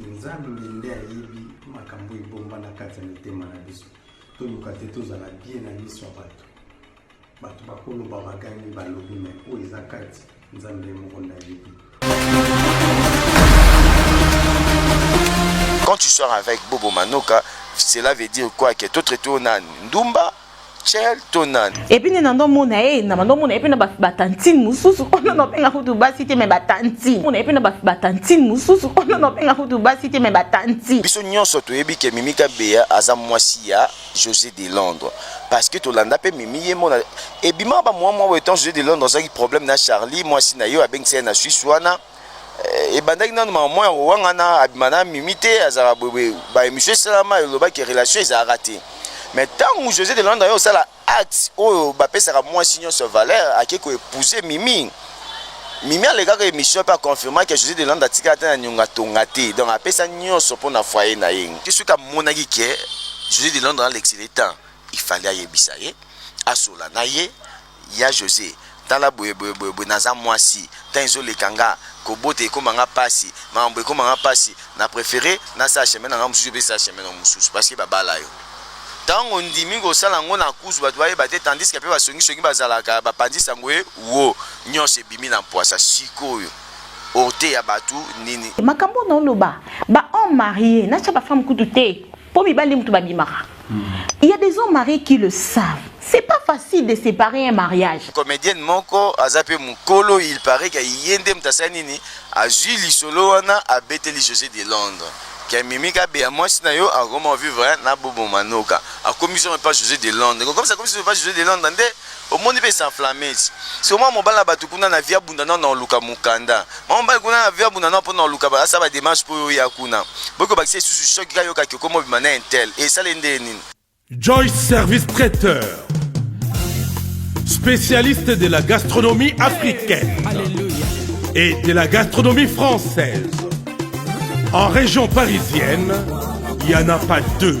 Nzambe nde ayebi makambo ebomba na kati ya mitema na biso. Toluka te tozala bien na miso ya bato. Bato bakoloba bagangi balobi me oyo eza kati Nzambe ye moko nde ayebi. Quand tu sors avec Bobo Manoka, cela veut dire quoi que toi traité na ndumba Chel to nani epuis nde nando mona ye na bando mona ye mpe na batantine mosusu ono naobenga kutu basi te me batantine mona ye mpe na batantine mosusu ono naobenga kutu basi te me batantine biso nyonso toyebi ke mimi kabeya aza mwasi ya josé de londres parce que tolanda mpe mimi ye mona ebimaka bamwa mwa boye temps josé de londres azalaki problème na charlie mwasi na ye oyo abengisa ye na suisse wana Eh, ebandaki nanu mama mwa ya kowangana abima na mimi te azalaka boye ba émission esalama elobaki relation ezalaka te mais ntango josé de landa yo osala acte oyo bapesaka mwasi nyonso valeur ake koepouser mimi mimi alekaka émission mpe aconfirmaki josé de landa atikala te na nionga tonga te donc apesa nyonso mpo na foyer na ye te soki amonaki ke josé de landa alekisele temps il fallait ayebisa ye asola na ye Ya Jose tala boye boye boye boye naza mwasi temps ezo leka nga kobota ekoma nga pasi makambu ekoma nga pasi na prefere na sala chemin na nga mususu yo pe sala chemin na yo mususu parce que ba bala yo tangu ondimi ko sala ngo na kuzu batu ba yeba te tandis que pe ba songi songi ba zalaka ba panzi sango e wo nionso ebimi na mpuasa sikoyo oteya batu nini. Makambo na oloba ba homme marie na tia ba femme kutu te po mibali nde mutu ba bimaka. Hmm. Il y a des hommes mariés qui le savent. C'est pas facile de séparer un mariage. Comédienne moko aza pe mukolo, il paraît que yende mtasa nini azui lisolo wana abeteli José de Londres. Ke mimi ka be mwasi na yo akoma vivre na bobo manoka. Akomi so pas José de Londres. Comme ça comme ça pas José de Londres nde Omoni pe s'enflammes. Sikoyo mwana mobali na batu kuna na vie abunda nao nao luka mukanda. Mwana mobali kuna na vie abunda nao po nao luka ba asala ba demarches po yo oya kuna. Boyi ko bakisa lisusu choc ka yoka ke okomi obima na intel. Esala ye ndenge nini? Joyce Service Traiteur Specialiste de la gastronomie africaine et de la gastronomie française En région parisienne, il n'y en a pas deux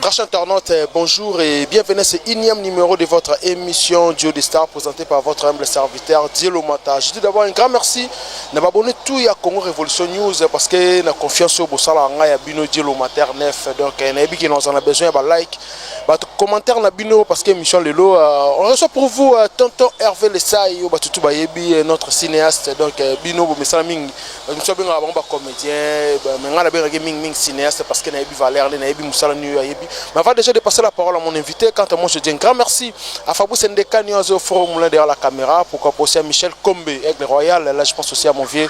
Prochain internaute, euh, bonjour et bienvenue à ce énième numéro de votre émission Duo des Stars présentée par votre humble serviteur Dielo Mata. Je dis d'abord un grand merci na abonné tout ya Congo Révolution News parce que na confiance au Bossala nga ya Bino Dielo Mata 9 donc euh, na ebi nous en a besoin ba like ba commentaire na Bino parce que émission lelo euh, on reçoit pour vous tonton Hervé Lessay ba tout ba yebi notre cinéaste donc Bino bo mesala mingi biso abengaka bango bacomédien mais ngai nabengaki mingi mingi cinéaste parce que nayebi valeur nde nayebi mosala nini oyo ayebi mais avant déjà de passer la parole à mon invité quant à moi je dis un grand merci à fabrice ndekani oyo azo foro moulin derrière la caméra pourquoi pas aussi à michel combe aigle royal là je pense aussi à mon vieux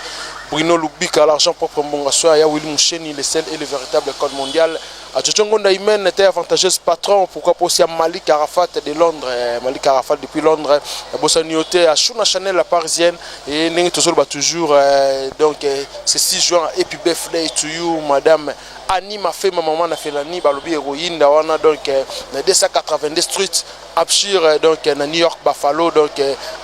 bruno lubika l'argent propre mbonga soya ya willy moucheni le seul et le véritable code mondial Achocho Ngonda Imen était avantageuse patron pourquoi pas aussi à Malik Arafat de Londres eh, Malik Arafat depuis Londres eh, Bossani Yote à Shuna Chanel la parisienne et Nengi Tozol bah toujours euh, donc euh, c'est 6 juin et puis birthday to you madame Annie Mafema maman na Felani balobi héroïne wana donc euh, 282 street Abshir donc na New York Buffalo donc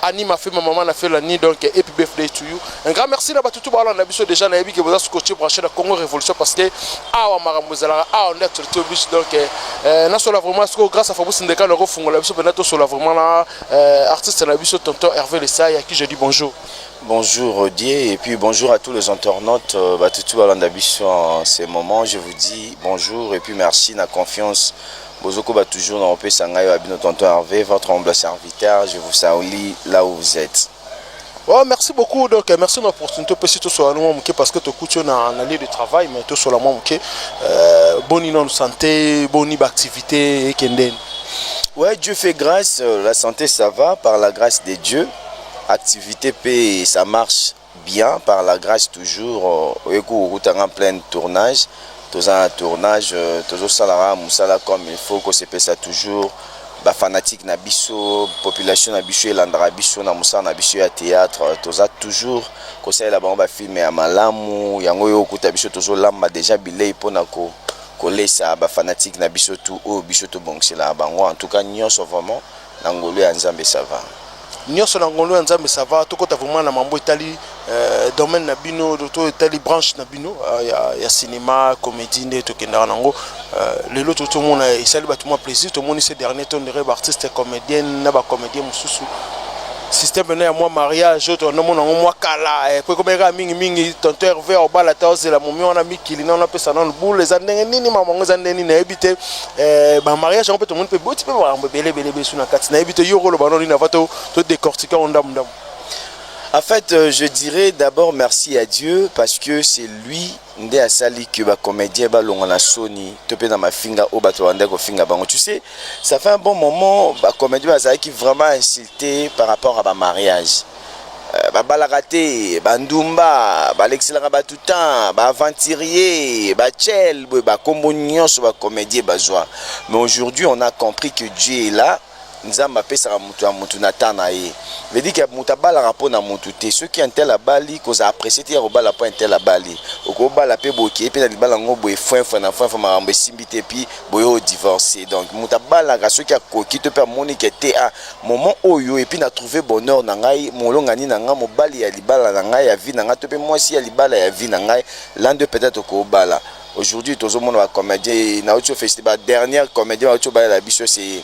Annie ma fille ma maman na fela ni donc happy birthday to you un grand merci na batu tout ba na biso déjà na yebi que boza scotché branché na Congo Révolution parce que awa makambo ezalaka awa nde actualité oblige donc euh, na sola vraiment siko grâce à Fabrice Ndeka na ko fungola biso pena to sola vraiment na euh, artiste na biso tonton Hervé Lesai à qui je dis bonjour Bonjour Rodier et puis bonjour à tous les internautes euh, Batutu Balanda Bisso en ce moment. Je vous dis bonjour et puis merci na confiance Bozo koba toujours na opesa ngai wa bino tonton Herve votre humble serviteur je vous salue là où vous êtes. Oh, merci beaucoup donc euh, merci na opportunité opesi tosola mwa moke parce que tokuti yo na, na lieu de travail mais tosola mwa moke euh, boni nano santé boni baactivité ekendeni ouais dieu fait grâce euh, la santé ça va par la grâce de dieu activité pe ça marche Bien par la grace toujours oye ko kuta nga pleine tournage toza na tournage tozo sala kaka musala comme il faut ko sepelisa toujours ba fanatique na biso population na biso elandaka biso na musala na biso ya theatre toza toujours ko salela bango ba film ya malamu yango oye ko kuta biso tozo lamba dejà bileyi pona ko koleyisa ba fanatique na biso tout oyo biso to bongiselaka bango en tout cas nionso vraiment Na ngolu ya nzambe ça va. Nioso na ngolu ya nzambe ça va tokota vraiment na mambo etali euh, domaine na bino to etali branche na bino euh, ya, ya cinéma comédie nde tokendaka nango euh, lelo to tomona esali bato mwa plaisir tomoni ce dernier temps de rêve artiste comédienne na ba comédien mosusu système pena ya mwa mariage oyo tonanomona yango mwa kala eh, po ekomeka mingi mingi tonto herve obala ta ozela momi wana mikili nano apesa nano bule eza ndenge nini mama yango eza ndenge nini nayebi te Eh, ba mariage yango mpe tomoni mpe boti mpe makambo ebele ebele besu na kati nayebi te yo okoloba noni nava to décortique yango ndambu ndambu En fait, euh, je dirais d'abord merci à Dieu parce que c'est lui nde asali que ba comédien balonga na soni to mpe na mafinga oyo bato banda kofinga bango tu sais ça fait un bon moment ba comédien bazalaki vraiment insulté par rapport à ba mariage babalaka te ba ndumba balekiselaka batu temps ba aventurier ba chel boye ba kombo nyonso ba comedien bazwa mais aujourd'hui on a compris que Dieu est là nzambe apesaka motu ya motu na temps na ye vedi ke motu abalaka mpo na motu te soki intel abali kozala apprécie te ya kobala mpo intel abali okobala mpe bokei mpe na libala yango boye fwenfwe na fwenfwe makambo esimbi te puis boye odivorce donc motu abalaka soki akoki to mpe amoni ke te a Moment oyo et puis na trouver bonheur na ngai, molongani na ngai, mobali ya libala na ngai, ya vie na ngai to pe mwasi ya libala ya vie na ngai, l'un d'eux peut-etre okobala. Aujourd'hui tozo mona ba comediens et na uti o feliciter ba dernière comediens ba uti obalela biso c'est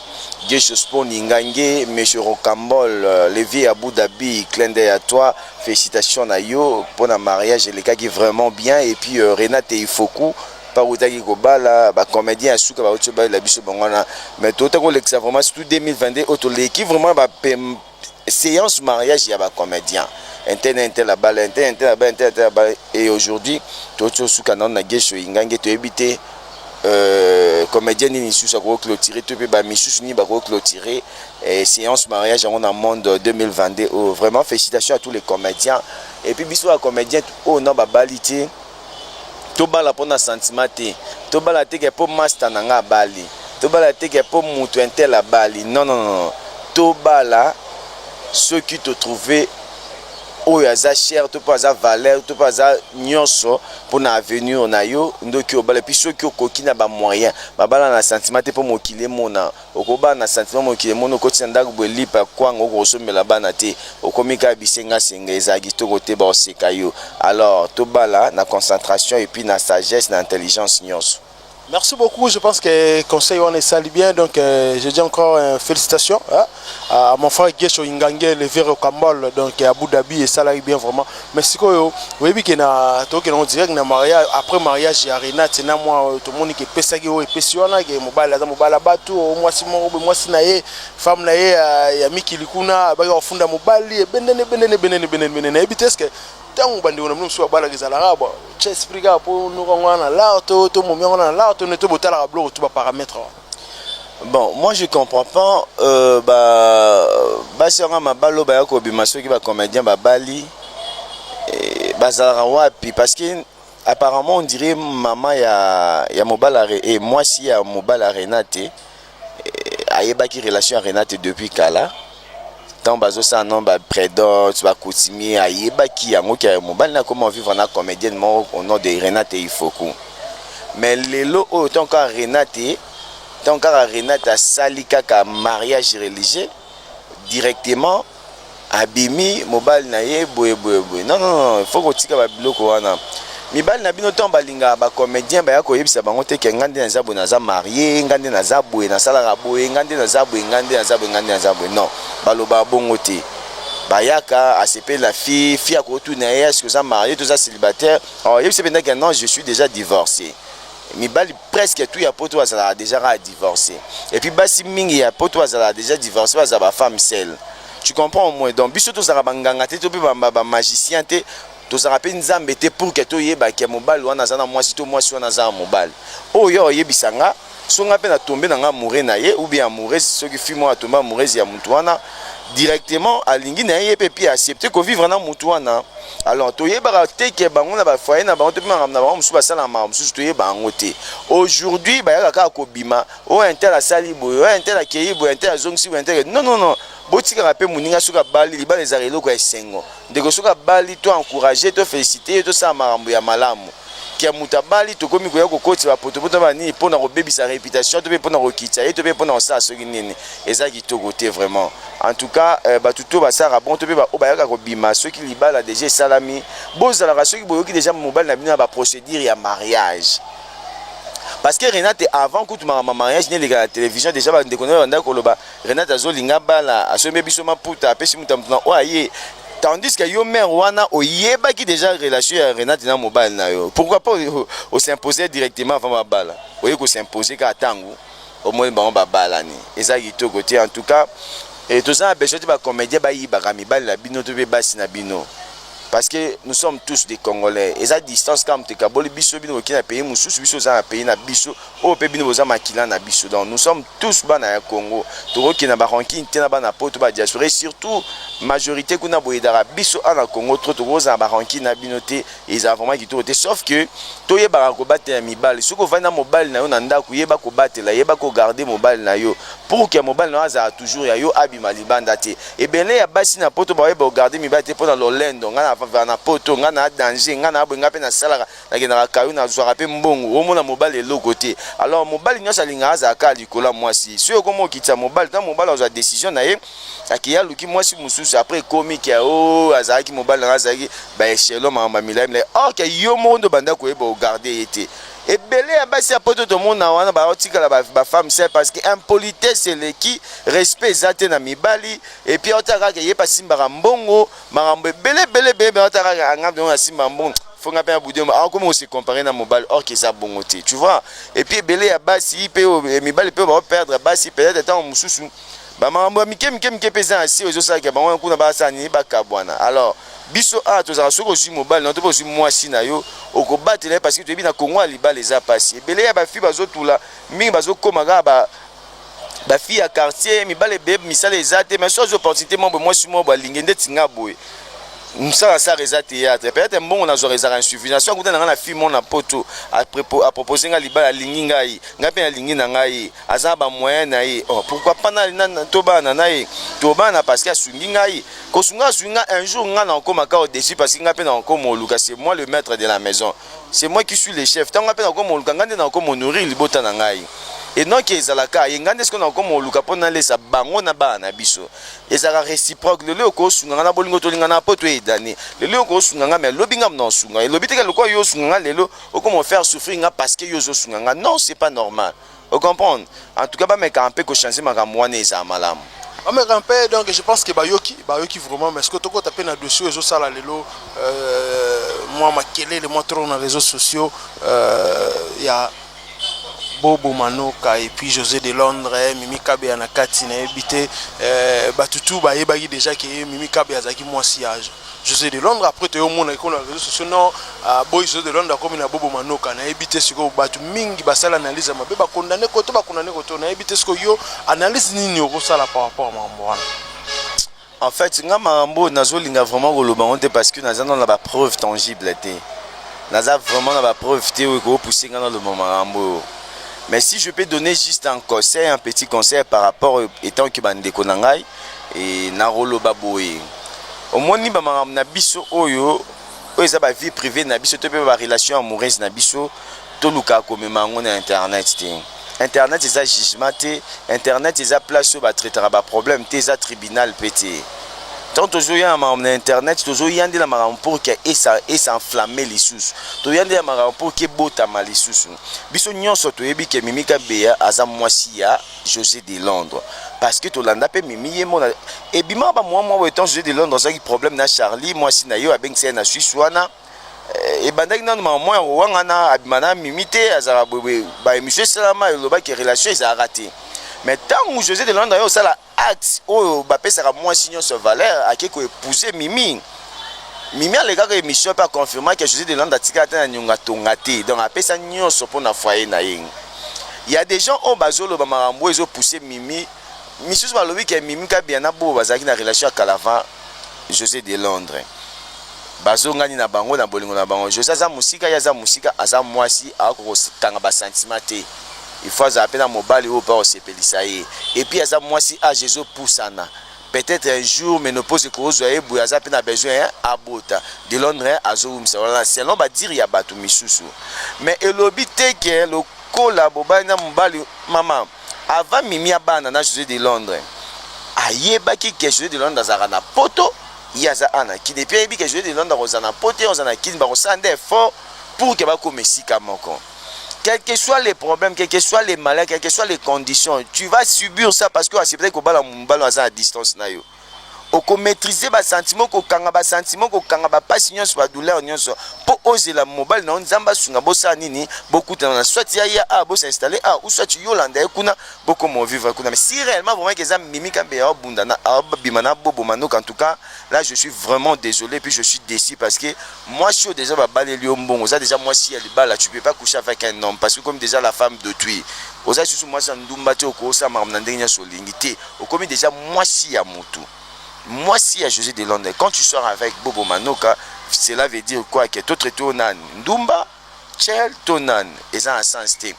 Guesho Spoon, Ingange, Monsieur Rocambole, le vieux ya Abu Dhabi, clin d'oeil à toi, felicitations na yo pona mariage elekaki vraiment bien et puis Renate Ifoku, pa wutaki kobala ba comedien ya suka ba wuti balela biso bango wana mais towuta kolekisa vraiment surtout 2022 oyo toleki vraiment ba séance mariage ya ba comedien intel na intel abala intel na intel abala intel na intel abala et aujourd'hui towuti osuka nano na gesho ingange toyebi te euh, comédien nini lisusu akoki clôturer to mpe bamisusu nini bakoki clôturer eh, séance mariage yango na monde 2022 oyo vraiment félicitation à tous les comédiens et puis biso bacomédien oyo na babali te Tobala po na sentiment te. Tobala te ke po masta na nga abali. Tobala te ke po mutu un tel abali. Non, non, non, non. Tobala soki to trouver oyo aza cher to pe aza valeur to pe aza nionso po na avenir na yo ndoki obala. Epuis soki okoki na ba moyens, babala na sentiment te po mokili emona. Oko bala na sentiment mokili emoni okoti na ndaku boye lipa ya kwanga oko kosombela bana te okomi kaka bisenga senga ezala kitoko te bako seka yo alors to bala na concentration et puis na sagesse na intelligence nionso. Merci beaucoup je pense que conseil wana esali bien donc je dis encore felicitation à mon frère Guesho Ingangele Vero Kambol donc Abu Dhabi esalaki bien vraiment. Mais sikoyo oyebi ke na toke na direct na mariage après mariage ya Renate na mwa oyo tomoni ke pesaki oyo epesi wana ke mobali aza mobala batu o mwasi moko boye mwasi na ye femme na ye ya, ya mikili kuna abaki kofunda mobali ebendene ebendene ebendene ebendene ebendene nayebi te eske ntango bandeko na bino mosusu babalaka ezalaka bo tia esprit kaka mpo noko yango wana na lar to to momi yango wana na lar to ne to botalaka biloko to baparametre wana Bon moi je comprends pas euh, ba basi yanga mabalo baya kobima soki ba comedien babali eh, bazalaka wapi parce que apparemment on dirait mama ya, ya mobala et eh, moi si ya mobala Renate eh, ayebaki relation ya Renate depuis kala ntango bazosala no ba predots ba coutumier ayebaki yango ke mobali na koma vivre na comedienne moko au nom de renate ifoku mais lelo oyo ntango kaka renate ntango kaka renate asali kaka mariage religieux directement abimi mobali na ye boye boye boye non non non il faut kotika ba biloko wana Mibali na bino tango balingaka ba comediens baya koyebisa bango te ke nga nde naza boye naza marie nga nde naza boye nasalaka boye nga nde naza boye nga nde naza boye nga nde naza boye non balobaka bongo te bayaka asepeli na fille fille akotuna ye eske oza marie to oza célibataire alors oyebisi ye mpenza ke non je suis déjà divorce mibali presque tout ya poto bazalaka déjà kaka divorce et puis basi mingi ya poto bazalaka déjà divorce bazala ba femme seule tu comprends au moins donc biso tozalaka banganga te to mpe bamagicien te Tozalaka mpe Nzambe te pour que toyeba que mobali wana aza na mwasi to mwasi wana aza na mobali. Oyo yo oyebisa nga soki nga mpe na tombe na nga amoureux na ye ou bien amoureuse soki fille moko atombe amoureuse ya mutu wana directement alingi na ye mpe puis accepter ko vivre na mutu wana. Alors toyebaka te que bango na ba foyer na bango to mpe makambo na bango mosusu basalaka makambo mosusu toyeba yango te. Aujourd'hui bayaka kaka kobima oyo un tel asali boye oyo un tel akeyi boye un tel azongisi boye un tel non non non botikaka mpe moninga soki abali libala ezalaka eloko ya esengo. Ndeko soki abali to encourager to feliciter ye tosala makambo ya malamu que mutu abali tokomi koya kokotisa ba potopoto na ba nini pona kobebisa reputation to pe pona kokitisa ye to pe pona kosala soki nini eza kitoko te vraiment en tout cas batu tout basalaka bon to pe ba oyo bayaka kobima soki libala deja esalami bozalaka soki boyoki deja mobali na bino na ba procedure ya mariage parce que Renate avant kutu makambo ya mariage n'eleka na television deja ba ndeko na yo babandaki koloba Renate azo linga abala asombi biso maputa apesi muta mutu na oyo aye tandis que yo mère wana oyebaki déjà relation ya Renate na mobali na yo pourquoi pas o s'imposer directement avant babala oye ko s'imposer ka tangu omoni bango babalani eza kitoko te en tout cas et toza na besoin te ba comédien bayibaka mibali na bino to mpe basi na bino parce que nous sommes tous des congolais eza distance kaka moto ekaboli biso bino kokina pays mosusu biso oza na pays na biso Oyo pe bino boza makila na biso donc nous sommes tous bana ya Congo toko kende na ba rancune te na bana poto ba diaspora et surtout majorite kuna bo aidaka biso awa na Congo trop toko zala ba rancune na bino te ezala vraiment kitoko te sauf que to yebaka ko batela mibali soki ovandi na mobali na yo na ndaku yeba ko batela yeba ko garder mobali na yo pour que mobali na yo azala toujours ya yo abima libanda te ebele ya basi na poto ba yeba ko garder mibali te pona lolendo nga na va na poto nga na danger nga na boye nga pe na salaka nakendaka kayo nazwaka mpe mbongo omona mobali eloko te alors mobali nyonso alingaka azala kaka likolo ya mwasi soki okomi okitisa mobali ntango mobali azwa décision na ye akeya aluki mwasi mosusu apres ekomi ke o oh, azalaki mobali nanga azalaki baechelo makambo ya milai milai or ke yo moko nde obanda koyeba ogarde ye te ebele ya basi ya poto tomona wana baotikala bafemme sel parce que impolitesse eleki respect eza te na mibali epuis aotala kaka eye pasimbaka mbongo makambo ebele ebele ebele ebele ata kaka anga mpe na simba mbongo fo nga mpe na budi awa komi kose compare na mobali or ke eza bongo te tu vois et puis ebele ya basi mpe eh, mibali mpe bao perdre basi peut-être ntango mosusu bamakambo ya mike mike mike mpe eza na sio ezosalaka bango wana kuna basala nini bakabwana alors biso awa tozalaka soki ozwi mobali na to mpe ozwi mwasi na yo okobatela ye parce que toyebi na kongo ya libala eza mpasi ebele ya bafi bazotula mingi bazokoma kaka ba fille ya quartier mibale ebele misala eza te mais so azwi opportunité moko boye mwasi moko boye alingi ndeti nga boye mosala asala eza théâtre peut-être mbongo nazwaka ezalaka insuffisant so akuta na ngai na fille moko na poto apropose ngai libala alingi ngai ngai mpe nalingi na ngai aza na bamoyen na ye oh, pourquoi pas tobana na ye tobana parce que asungi ngai kosunga asungi ngai un jour ngai nakokoma kao deçu parce que ngai mpe nakokoma oluka c'est moi le maître de la maison c'est moi qui suis le chef ntango ngai mpe nakokoma koluka ngai nde nakokoma honorir libota na ngai et non ke ezalaka ye ngai nde sikoyo nakokoma koluka mpo nalesa bango na bana na biso ezalaka réciproque lelo okoki osunga ngai na bolingo tolingana mpo toyedani lelo okoki osunga ngai me lobi ngai mna osunga elobi teke lokola yo osunga ngai lelo okoma ofaire souffrir ngai parce que yo ozosunga ngai non c'est pas normal O comprendre? En tout cas ba mekaka mpe ko changer makambo wana ezala malamu. Ba mekaka mpe donc je pense que ba yoki, ba yoki vraiment mais sikoyo to kota mpe na dossier oyo ezo sala lelo euh, mua makelele mua trop na reseaux sociaux euh, ya Bobo Manoka et puis José de Londres, eh, Mimi Kabeya na kati na yebite, eh, batutu ba yebaki déjà que Mimi Kabeya azaki mwasi ya Jose de Londres après toyo mona iko na réseaux sociaux non uh, boy Jose de Londres akomi na bobo manoka na yebi te siko batu mingi basala analyse mabe ba condamné ko to ba condamné ko to na yebi te siko yo analyse nini okosala par rapport à mambo wana en fait nga mambo nazolinga vraiment koloba ngo te parce que naza na ba preuve tangible te naza vraiment na ba preuve te oyo ekopousse nga naloba makambo oyo mais si je peux donner juste un conseil un petit conseil par rapport étant que bandeko na ngai Ee, nakoloba boye. Omoni, bamakambo na biso oyo, oyo eza ba-vie privee na biso, to pe ba-relation amoureuse na biso, tolukaka komema yango na Internet te. Internet eza jugement te, Internet eza place oyo ba-traitaka ba-probleme te, eza tribunal pe te. Tango tozoya na makambo na Internet, tozoya nde na makambo pour que esa, esa-enflammer lisusu. Toya nde na makambo pour que ebotama lisusu. Biso nyonso toyebi que Mimi Kabeya aza mwasi ya. Jose de Londres parce que tolanda pe mimi ye mona ebima ba mwa mwa temps Jose de Londres azaki problème na Charlie mwasi na yo abengisa ye na Suisse wana eh, ebandaki nanu mama mwa ya kowangana abima na mimi te azalaka boye ba émission esalama elobaki relation ezalaka te mais ntango Jose de Londres ayo osala acte oyo bapesaka mwasi nyonso valeur ake koepouser mimi Mimi alekaka emission pe a confirma que Jose de Landa atikala te na nionga tonga te donc apesa nionso mpo na foyer na ye. Ya des gens oyo bazoloba makambo ezo pousser Mimi misusu balobi ke Mimi Kabia na Bobo bazalaki na relation ya kala avant Jose de Londres bazongani na bango na bolingo na bango. Jose aza mosika ye aza mosika aza mwasi akoki kokanga ba sentiment te il faut azala mpe na mobali oyo mpe akosepelisa ye epuis aza mwasi age ezopusana Peut etre un jour menopause ekozua ye boye aza pe na besoin hein abota. De Londres hein azo wumisa wana selon ba dire ya batu misusu. Mais elobi te que lokola bobali na mobali maman avant Mimi abana na Jose de Londres ayebaki que Jose de Londres azalaka na poto ye aza awa na kin et puis ayebi que Jose de Londres akozala na poto ye akozala na kin bakosala nde effort pour que bakoma esika moko. quel que soit les problèmes, quel que soit les malheurs, quel que soit les conditions, tu vas subir ça parce que tu acceptes que bala mumbalo aza à distance na yo. Oko maîtriser ba sentiments, ko kanga ba sentiments, ko kanga ba passion nyonso, ba douleur nyonso. Po ozela mobali na nzamba sunga bosa nini, bokutana na soit ya ya a bosa installer a ou soit Yolanda kuna boko mo vivre kuna. Mais si réellement vraiment que ça mimi kambe ya bunda na bima na bobo manoka en tout cas, là je suis vraiment désolé puis je suis déçu parce que Mwasi oyo dejà ba baleli yo mbongo oza dejà mwasi ya libala tu peux pas coucher avec un homme parce que okomi dejà la femme d'autrui oza lisusu mwasi ya ndumba te oko osala makambo na ndenge nionso olingi te okomi dejà mwasi ya mutu mwasi ya Jose de Londres quand tu sors avec Bobo Manoka cela veut dire quoi que totre to nani ndumba Cher to nani eza na sens te.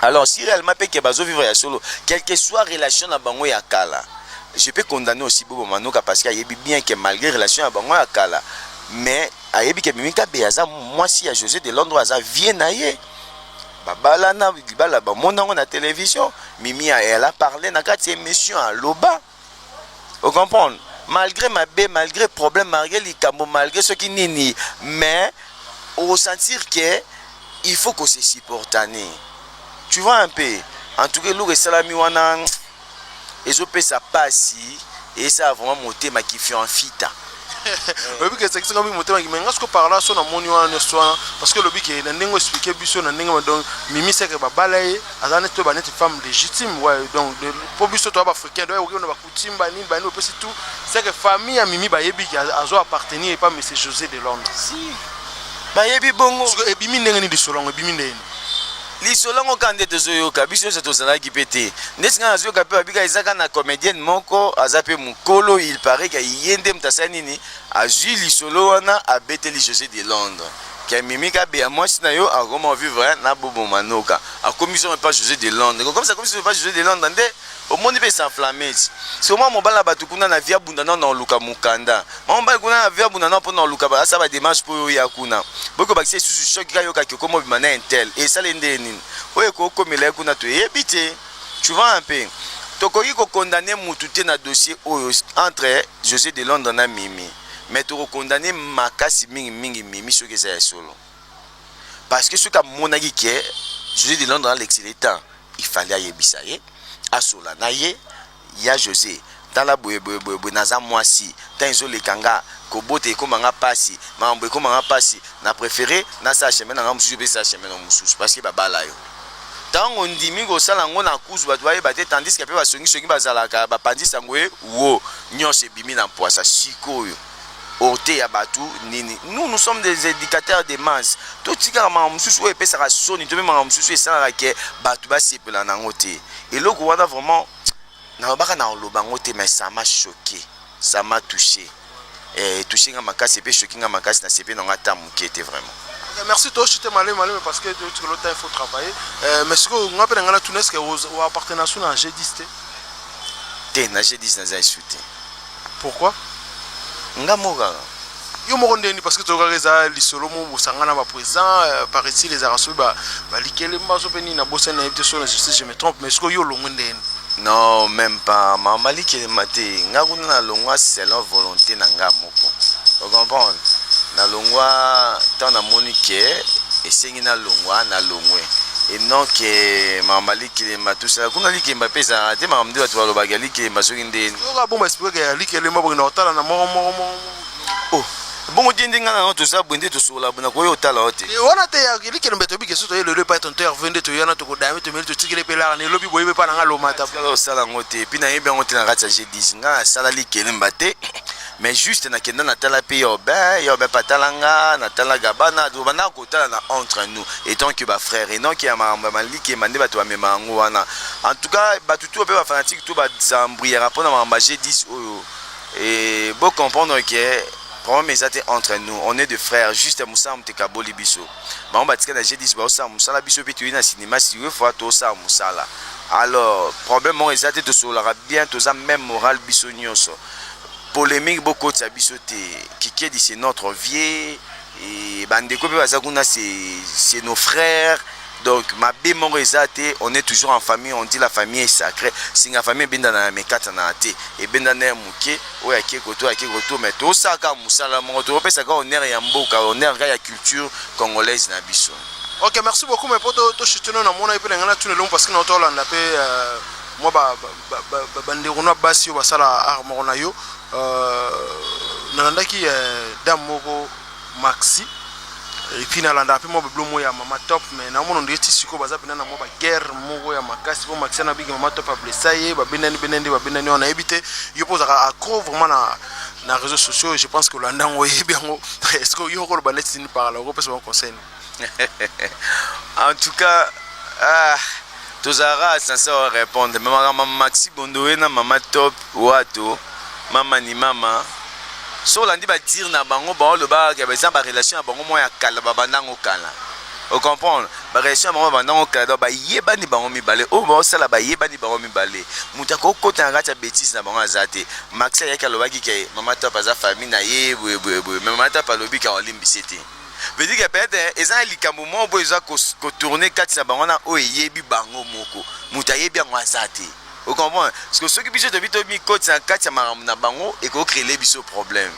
Alors si réellement pe ke bazo vivre ya solo, quel que soit relation na bango ya kala, je peux condamner aussi Bobo Manoka parce que ayebi bien que malgré relation ya bango ya kala, mais ayebi que Mimi Kabeya aza mwasi ya Jose de Londres aza vie na ye. babalana libala bamona yango na television mimi elle a parle na kati ya émission aloba O comprendre? Malgre mabe, malgre problème, malgre likambo, malgre soki nini, mais o sentir que il faut ko se supportaner. Tu vois un peu? En tout cas, eloko esalami wana ezopesa pasi, esala vraiment motema kifianfita. oyebi ke ezakisi ngai motema mais ngai sikoyo parla so namoni wana nyonso wana parce que lobi ke na ndenge oexplike biso na ndenge donc mimi seke babala ye aza neti toyeba neti femme légitime wa donc mpo biso toya baafricain donc okeona bacoutume banini banini opesi tout seke famille ya mimi bayebi ke azo appartenir epa monsieur josé de londres si bayebi bongo siko ebimi ndenge nini lisolo yango ebimi ndenge nini Lisolo yango kaka nde tozo yoka biso nionso tozalaki pe te ndeti nga nazo yoka pe babi kaka eza kaka na comedienne moko aza pe mukolo il parait ke ye nde mutu asali nini azui lisolo wana abeteli Jose de Londres ke mimi kabeya muasi na yo akoma ko vivre na bobo manoka akomi somo epa Jose de Londres kokomisa akomi somo epa Jose de Londres nde Omoni pe s'enflammes sikoyo mwana mobali na batu kuna na vie abunda nao nao luka mukanda mwana mobali kuna na vie abunda nao po nao luka ba asala ba demarche po yo oya kuna boyi kobakisa lisusu choc kaka yokaki okomi obima na intel esala ye nde nini oyo ekoki komela ye kuna toyebi te tu vois un peu tokoki ko condamner mutu te na dossier oyo entre Jose de Londres na Mimi mais toko condamner makasi mingi mingi Mimi soki eza ya solo parce que soki amonaki que Jose de Londres alekisa ye temps il fallait ayebisa ye asola na ye ya Jose tala boye boye boye boye naza mwasi temps ezoleka nga kobota ekoma nga pasi makambo ekoma nga pasi na prefere nasala chemin na nga mosusu mpe sala chemin na mosusu parce que babala yo ntango ondimi kosala yango na kuzu bato bayeba te tandis ke mpe basongisongi bazalaka bapanzi sango ye wo nyonso ebimi na mpwasa sikoyo oteya batu nini nous nous sommes des educateurs de masse totikaka makambo mosusu oyo epesaka soni to mpe makambo mosusu esalaka ke bato basepela na yango te eloko wana vraiment nalobaka na oloba yango te mais ça m'a choqué ça m'a touché eh, touché nga makasi mpe choqué nga makasi na sepe na nga ata moke te vraiment Eh, merci toshite malemi malemi parce que toyoki lota il faut travailler Eh, mais sikoyo nga mpe na ngai natuna eske oappartenation na g10 te te na g10 naza esu te Pourquoi nga moko kaka? Yo moko ndenge nini parce que toyokaka eza lisolo moko bosangana ba president euh, paraît-il ezalaka soki ba ba likelemba so pe nini na bosani na yebi te so na justice je me trompe mais sikoyo yo olongwe ndenge nini Non, même pas. Ma Malik et Maté, nga kuna na longwa selon volonté na nga moko. Vous comprenez? Na longwa tant na moni que esengi na longwa na longwe. Et non que ma Malik likelemba tosala kuna likemba pe ezalaka te makambo nde bato balobaka ya likelemba soki nde soki abomba espeke ya likelemba boke na kotala na moko moko moko oh, bongo te nde ngai na yango toza boye nde tosokola boye nakoki otala yo te e wana te ya likelemba toyebi kesu toye lelo epai tonto herve nde toye wana tokodame tomeli totikeli epe lara na elobi boyebi epai na ngai lomata osala yango te epi nayebi yango te na kati ya g10 ngai nasala likelemba te mais juste na kenda na tala pe urbain urbain pa tala nga na tala gabana do bana ko tala na entre nous étant que ba frères et non que ya makambo ya maliki mande bato ba mema yango wana en tout cas bato tout pe ba fanatique tout ba s'embrouillera pona makambo j'ai 10 oyo et bo comprendre que problème eza te entre nous on est de frères juste mosala moto ekaboli biso bango batika na g10 baosala mosala biso mpe toyei na sinema siwe fois tosala mosala alors problème moko eza te tosololaka bien toza même moral biso nyonso Polemique bo kotisa biso te kikedi c'est notre vieux et ba ndeko pe baza kuna c'est nos frères donc mabe moko eza te on est toujours en famille on dit la famille est sacrée singa famille ebendana na mekatanaka te ebendana ya moke oyo ake koto ake koto mais tosalaka mosala moko tokopesaka honneur ya mboka honneur kaka ya culture congolaise na biso ok merci beaucoup mais po toshitino na mona ye mpe na ngai natuna elongo parce que na otolanda mpe euh, mwa ba ndeko na basi oyo basala art moko na yo nalandaki dame moko maxi epuis nalandaka mpe mwa babilo moko ya mama top mai naomona ondire ti sikoyo baza mpena na mwa baguerre moko ya makasi mpo maxi na bigi mama top ablesa ye babendani bendani nde babendani wana nayebi te yo mpo ozalaka accro vraiment na na réseau sociaux je pense que olanda yango oyebi yango est ce que yo okoloba neti nini par là okopesa bango conseil en tout cas ah, tozalaka sense wa répondre me makambo maxi bondowe na mama top wato mama ni mama so olandi badire na bango bango olobaka eza barelation ya bango mwa ya kala babandango kala ocomprendre barelation ya bango babandango kala donc bayebani bango mibale oyo baosala bayebani bango mibale moto akokota na kati ya bétise na bango aza te maxi ayaki alobaki ke mama top aza famille na ye boyeboyeboye me mama top alobi ke olimbisi te veut dire que peut-être eza na likambo moko boye eza kotourne kati na bango wana oyo eyebi bango moko moto ayebi yango aza te ocomprendre parce que soki biso tobi tomikoti na kati ya makambo na bango ekocrele biso problème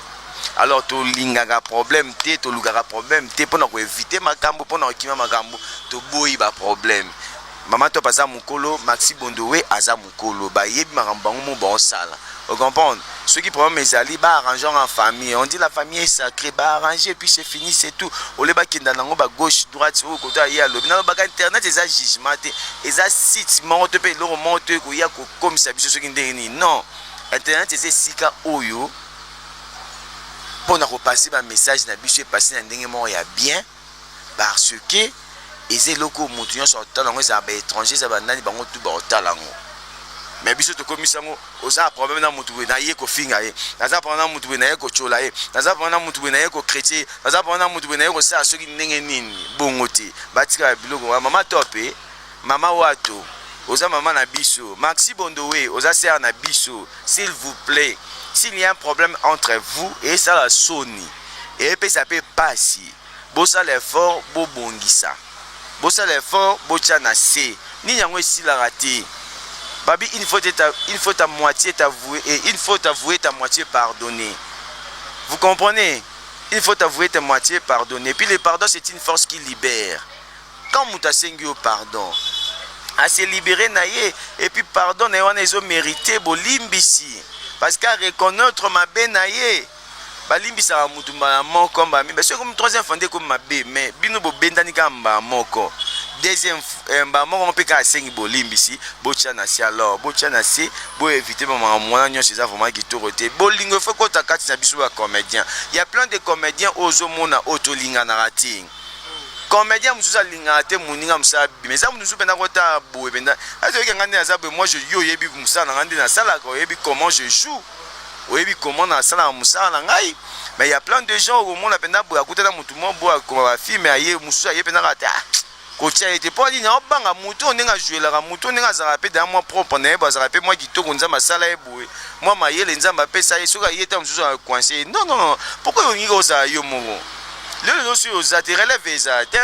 alors tolingaka problème te tolukaka problème te mpo na koevite makambo mpo na kokima makambo toboyi baproblème mama top aza mokolo maxi bondowe aza mikolo ba yebi makambo bango moko bao sala o comprendre soki problème ezali ba arrange yango en famille on dit la famille est sacrée ba arrange puis c'est fini c'est tout au lieu ba kenda nango ba gauche droite oyo koto aye alobi nalo baka internet eza jugement te eza site moko to pe eloko moko to ekoya ko komisa biso soki ndenge nini non internet eza esika oyo pona ko passer ba message na biso e passer na ndenge moko ya bien parce que eza eloko oyo mutu nionso akotala yango ezala ba etranger ezala ba nani bango tout bakotala yango mais biso tokomisi yango oza na problème na mutu boye naye kofinga ye naza problème na mutu boye naye kotyola ye naza problème na mutu boye naye kokritike ye naza problème na mutu boye naye kosala soki ndenge nini bongo te batika biloko wana mama tope Maman watu oza maman na biso maxi bondowe oza sœur na biso s'il vous plait s'il ya un problème entre vous esala soni epesa pe pasi bosala effort bobongisa bosala effort botia na se nini yango esilaka te babi une faute ta une faute à moitié ta voué et une faute à voué ta moitié pardonner vous comprenez une faute à voué ta moitié pardonner puis le pardon c'est une force qui libère Quand mutu asengi yo pardon a se liberer na ye et puis pardon na ye wana ezo merite bolimbisi parce que a reconnaitre mabe na ye. Balimbisaka mutu mbala moko mbala mibale, soki ekomi troisième fois nde ekomi mabe, mais bino bobendani kaka mbala moko deuxième eh, mbala moko mpe kaka asengi bolimbisi, botia na se alors, botia na se bo éviter ba makambo wana nyonso, eza vraiment kitoko te. Bolingo efo kota kati na biso ba comédiens, ya plein de comédiens ozo mona oyo tolinganaka te. comedien mususu alingaka te moninga mosala abima eza mutu mususu mpenza kota boye mpenza ete oyeke ngai nde naza boye moi yo oyebi mosala na ngai nde nasalaka oyebi comment je joue oyebi comment nasalaka mosala na ngai mais ya plein de gens okomona mpenza boye akutana motu mo boye akoma bafilme aye mosusu aye mpenza kaka te ah, kotya ye te mpo nini aobanga motu oyo ndenge ajuelaka motu oyo ndenge azalaka mpe daa mwa propre na ye boye azalaka mpe mwa kitoko nzambe asala ye boye mwa mayele nzambe apesa ye soki aye ta mosusu akoinse ye non non non pourkoi olingi kozala yo moko lelo yo soki oza te relève ezala te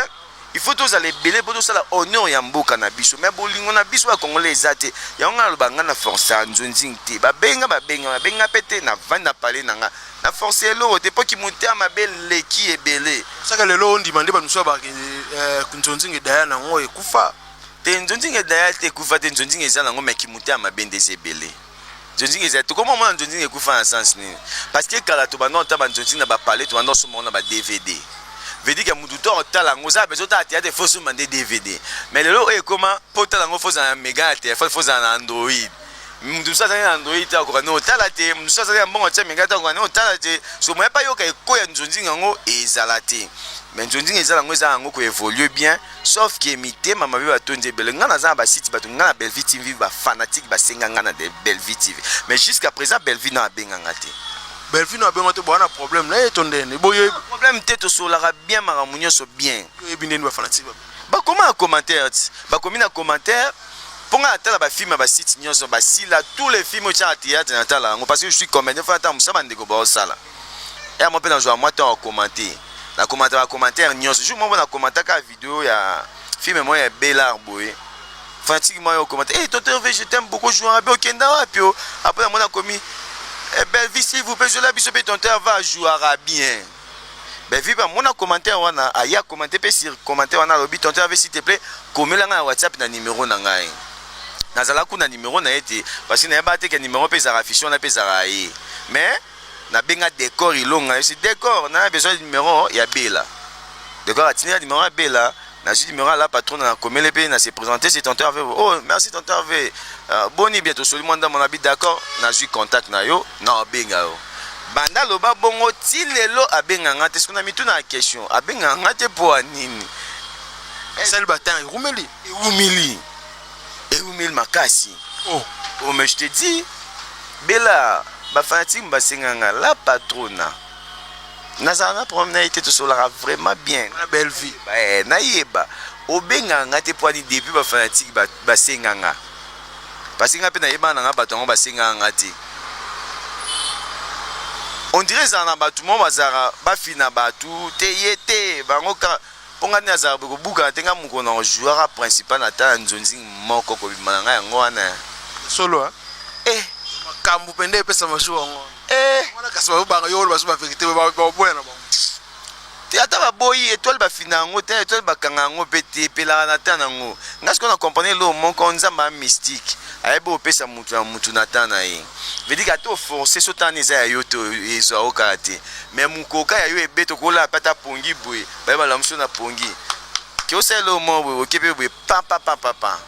il faut tozala ebele mpo tosala honneur ya mboka na biso mais bolingo na biso ya congolais eza te yango ngai naloba ngai na force ya nzonzing te babenga babenga babenga mpe te navandi na pale na ngai na force ya eloko te mpo kimotema mabe eleki ebele saka lelo ondima nde bato mosusu abaki eh, nzonzing edaya na yango ekufa te nzonzing edaya te ekufa te nzonzing eza na yango me kimotema mabe nde eza ebele Nzonzing ezali te koma mona nzonzing ekufa na sens nini parce que kala to banda ota ba nzonzing na ba palais to banda osomba na ba DVD veut dire que mutu to otala ngo za bezo ta théâtre faut somba nde DVD mais lelo oyo ekoma po tala ngo faut na mega na téléphone faut na Android mutu mususu azali na Android te akoka ne otala te mutu mususu azali na mbongo atia mega te akoka ne otala te so moya pa yoka ekoya nzonzing yango ezala te mais nzonzing ezala ngo eza yango ko évoluer bien Sauf que mitema mabe batondi ebele. Nga naza na ba sites bato nga na Bellevue TV ba fanatiques basenga nga na de- Bellevue TV. Mais jusqu'à présent Bellevue na abenga nga te. Bellevue na bengo te boa na problème na ye to ndene. Bo yo Problème te tosolaka bien makambo nyonso bien. yebi ndene ba fanatique ba. bakoma na commentaire ti bakomi na commentaire mpo ngai natala bafilme ya basite nyonso basila tous les films otyaka théâtre natala yango parce que je suis comédien fo natala mosala bandeko baosala Heure moko pe na zua mwa temps ya ko commenter. Na commentaka ba commentaires nionso. Jour moko na commentaka kaka video ya film moko ya Bel'art boye. Fanatique moko aye ko commenter, "Eh tonton Herve, je t'aime beaucoup, jouera bien, okenda wapi oh?" Après na moni akomi, "Eh Bellevue s'il vous plait, zuela biso pe tonton Herve a jouera bien." Bellevue pe amona commentaire wana, aye a commenter pe sur commentaire wana alobi, "Tonton Herve s'il te plait, komela ngai na WhatsApp na numero na ngai." Nazalaka kutu na numero na ye te parce que nayebaka te que numero pe ezalaka affiche wana pe ezalaka ya ye. Mais Na benga decor ilonga yo si decor na besoin numero ya bella decor atindi nga numero ya bella na zui numero ya la patrona na komele pe na se presenter si tonton herve oh merci tonton herve uh, boni bien tosoli mwa ndambo na bi d'accord na zui contact na yo na obenga yo banda loba bongo ti lelo abenga nga te soki na mituna ya question abenga nga te po anini esali batanga ewumeli ewumeli Ewumeli makasi. Oh. Oh mais je te dis Bella ba fanatique basenga nga la patrona. Nazala na problème na ye te tosolaka vraiment bien. Na belle vie. Eh, nayeba obengaka nga te poani depuis ba fanatique basenga nga. Parce que nga pe nayebana nga bato yango basengaka nga te. On dirait ezala na bato moko bazalaka bafina bato te ye te bango kaka Po nga nde nazalaka boye kobukana te nga mokolo nako jouaka principal na tala nzonzing moko kobima na nga yango wana eh. Solo hein? Eh! Makambu pende epesa ma jour yango wana. Eh! Yango wana kasi bazo banga yo oloba lisusu ba verite boye ba boya na bango. Te ata ba boyi etoile ba fina yango te etoile ba kanga yango pe te epelaka na temps nango. Nga sikoyo na comprendre eloko moko nzambe aza mystique ayebi opesa mutu na mutu na temps naye. veut dire ata oforce so tani eza ya yo te ezwa yo kaka te me mokoka ya yo ebeta okolala mpe ata pongi boye baye balamuso na pongi ke osalela oyo moko boye oke mpe boye papapapapa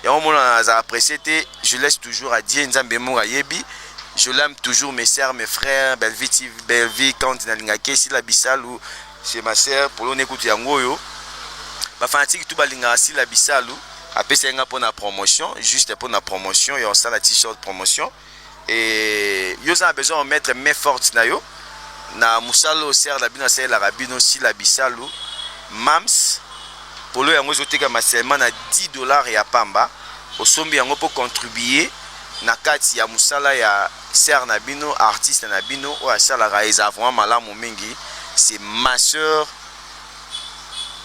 yango omonana aza apprécie te je laisse toujours à dieu nzambe moko ayebi je l'aime toujours mes sœurs mes frères belvi tv belvi kandi nalingaki esila bisalu Chez ma sœur polone kutu yango oyo ba fanatique tout balingaka sila bisalu apesaki nga pona promotion juste pona promotion ya osala t-shirt promotion et yo oza na besoin ya mettre main forte na yo na mosala oyo sere na bino asalelaka bino sila bisalu mams polo yango ezotekama seulement na 10 dollars ya pamba osombi yango mpo contribue na kati ya mosala ya Sœur na bino artiste na bino oyo asalaka eza vraiment malamu mingi c'est ma sœur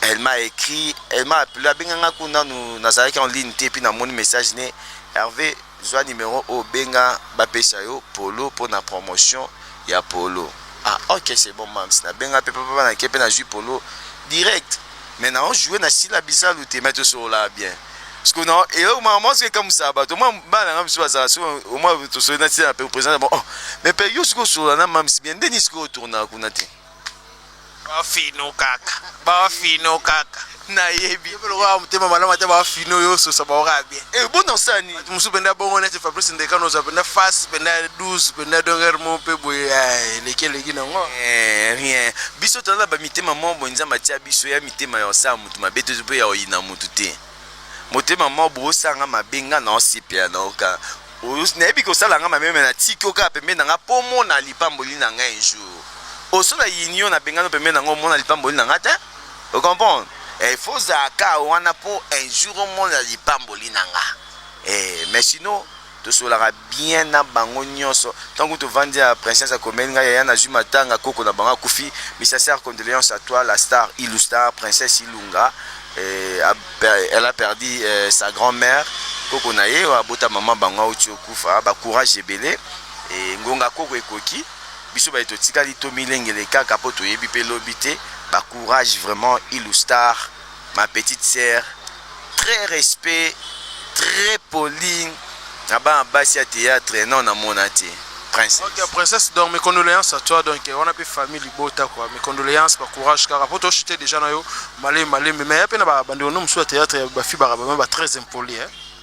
elle m'a écrit elle m'a appelé abenga nga kuna nanu nazalaki en ligne te puis namoni message ne Hervé zwa numero oyo benga bapesa yo polo mpo na promotion ya polo ah ok c'est bon mams nabenga mpe papa nake mpe nazwi polo direct mais nao joue na sila bisalu te mais tosolola bien sikoyo na eloko mwa mwa soki ekamwisaka bato mwa bana nanga biso bazala so omwa tosoli na tina pe president bon oh mais pe yo soki osolola na mamisi bien nde nini soki otournaka kuna te bafino kaka bafino kaka nayebi lokola motema malamu ata bafino yo ososa baokaa bien e bona osala nini bato mosusu mpenza bongo neti fabrice ndekano ozwa mpenza face mpenza 12 mpenza donger mo mpe boye eleki eleki nango rien biso toza na bamitema moko boye nzambe atia biso ya mitema ya osala moto mabe tozo mpe ya oyina mutu te motema mwa bo osala nga mabe nga na osepela na oka nayebi kosala nga mabe me na tiki oka pembe na nga po omona lipamboli na nga un jour oso na yini yo na bengano pembe na nga omona lipamboli na nga te ocomprendre eh, fo ozalaka wana po un jour omona lipamboli na nga eh, mais sinon Tosolaka bien na bango nionso tangu tovandi ya princesse akomeli nga yaya nazui matanga koko na bango akufi mes sinceres condoleances à toi la star ilu star princesse ilunga euh elle a perdu euh sa grand mère koko na ye oyo abota maman bango awuti okufa ba courage ebele et ngonga koko ekoki biso baye totikali tomilengele kaka po toyebi pe lobi te ba courage vraiment ilu star Ma petite sœur très respect très polie na bana basi ya theatre nao na mona te princesse. Ok princesse donc mes condoléances à toi donc wana pe famille libota quoi mes condoléances ba courage kaka poto chute déjà na yo malé malé mais ya pe na ba bande ono musu ya theatre ba fibaka ba très impoli hein.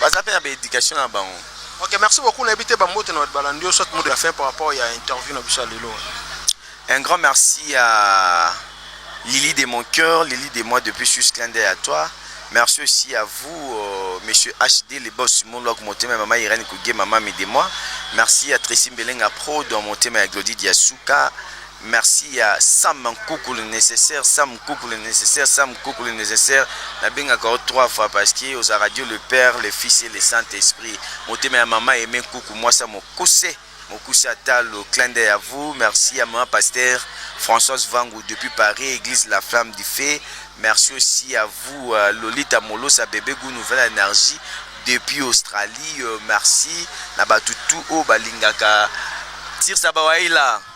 Baza pe na ba education na bango. Ok merci beaucoup nayebi te ba mbote na bato balandi yo soit mot de la fin par rapport ya interview na biso ya lelo. Un grand merci à Lily de mon cœur, Lily de moi depuis Suisse clin d'œil à toi. Merci aussi à vous, euh, Monsieur HD, les boss du monde, monté ma maman Irène Kougé, maman de moi. Merci à Tracy Mbelenga Pro, dans monté ma Glody Diasuka, Merci ya sam nkuku le necessaire sam nkuku le necessaire sam nkuku le necessaire nabengaka yo trois fois parce que oza radio le père le fils et le saint esprit motema ya mama aime nkuku mwasi ya mokuse mokuse ya talo clin d'oeil à vous merci ya mama pasteur françoise vangu depuis paris église la flamme du fait merci aussi à vous euh, lolita molosa bebe gout nouvelle énergie depuis australie euh, merci na bato tout oyo balingaka tirsa bawaila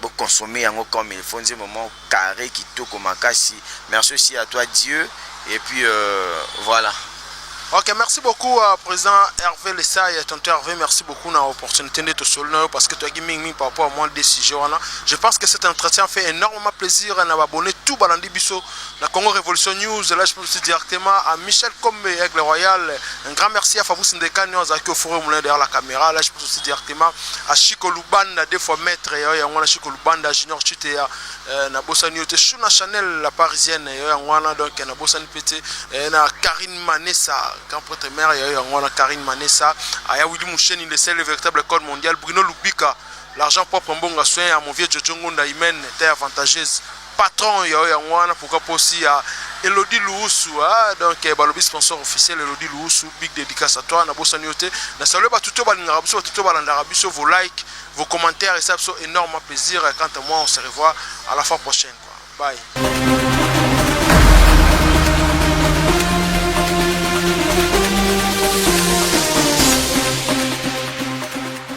Bo consommer yango comme il faut nzembo moko carre kitoko makasi merci aussi à toi Dieu et puis voilà. Ok merci beaucoup uh, president Herve Lesai tonton Herve merci beaucoup na opportunité nde tosoli na yo parce que toyaki mingi mingi par rapport à moi de sujet wana je pense que cet entretien fait énormément plaisir na babone tout balandi biso Na Congo Revolution News, là je peux aussi directement à Michel Kombe, Aigle Royal. Un grand merci à Fabrice Ndekani, on zaki au four moulin derrière la caméra. Là je peux aussi directement à Chico Lubanda, deux fois maître, yo yangwana Chico Lubanda, Junior Chitea, euh, na Bossani Yote, Shuna Chanel, la parisienne, yo yangwana, donc na Bossani Pete, euh, na Karine Manessa, grand prêtre mère, yo yangwana Karine Manessa, Aya Willy Moucheni, le seul véritable code mondial, Bruno Lubika, l'argent propre, Mbonga Soin, à mon vieux Jojo Ngonda Imen, terre avantageuse. Patron ya yo yango wana pourquoi po si ya Elodie Luwusu ah donc balobi sponsor officiel Elodie Luwusu big dedicace à toi na bosani yo te na salue batu to balingaka biso batu to balandaka biso vos likes vos commentaires esa biso énorme plaisir quant à moi on se revoit à la fois prochaine quoi bye